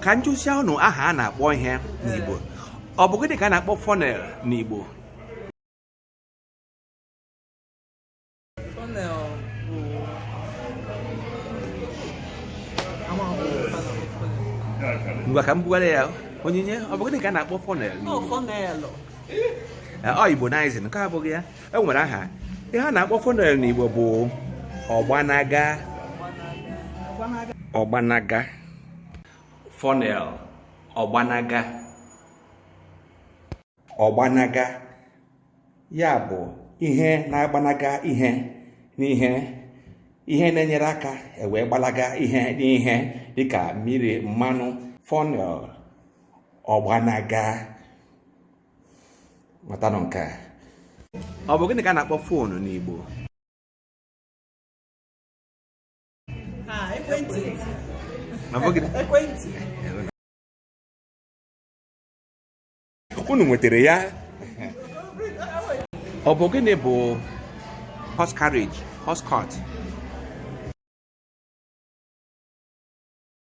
ka m jụzịa unu aha a na-akpọ ihe n'Igbo ọ bụ gịnị ka a na-akpọ funnel n'Igbo ngwa ka m bugara ya Onyinye ọ bụ gịnị ka a na-akpọ funnel n'Igbo ọ Igbonizing nke a abụghị ya e nwere aha ihe a na-akpọ funnel n'Igbo bụ ọgbanaga ọgbanaga funnel ọgbanaga ọgbanaga ya bụ ihe na-agbanaga ihe n'ihe ihe na-enyere aka ewee gbalaga ihe n'ihe dịka mmiri mmanụ funnel ọgbanaga matanụ nke a ọ bụ gịnị ka a na-akpọ phone n'Igbo ekwentị ekwentị unu nwetara ya ọ bụ gịnị bụ horse carriage horse cart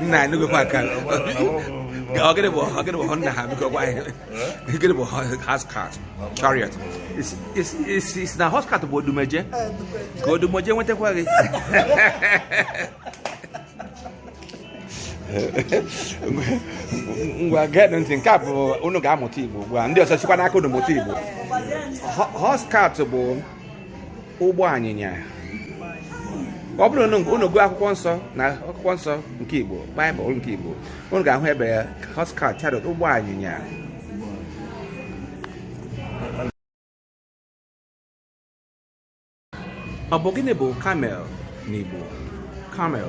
nna anyị gokwa aka ọ gịnị bụ ọ gịnị bụ nna ha biko gwa anyị gịnị bụ horse cart chariot ị sị na horse cart bụ Odumeje ka Odumeje nwetakwa gị ngwa geenụ ntị nke a bụ unu ga-amụta Igbo ugbu a ndị ọzọ sikwa n'aka unu mụta Igbo horse cart bụ ụgbọ anyịnya ọ bụrụ na unu gụọ akwụkwọ nsọ na akwụkwọ nsọ nke Igbo Baịbụl nke Igbo unu ga-ahụ ebe ya horse cart chariot ụgbọ anyịnya ọ bụ gịnị bụ camel n'Igbo camel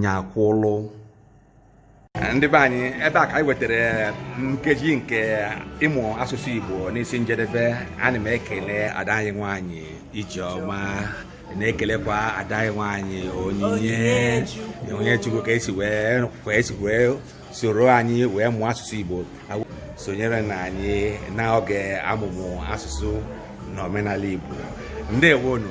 nya kwụlụ ndị be anyị ebe a ka anyị wetara nkeji nke ịmụ asụsụ Igbo n'isi njedebe ana m ekele ada anyị nwanyị Ijeọma na-ekelekwa ada anyị nwanyị Onyinye Onyinyechukwu ka e si wee soro anyị wee mụọ asụsụ Igbo sonyere na anyị n'oge amụmụ asụsụ na omenala Igbo ndewonu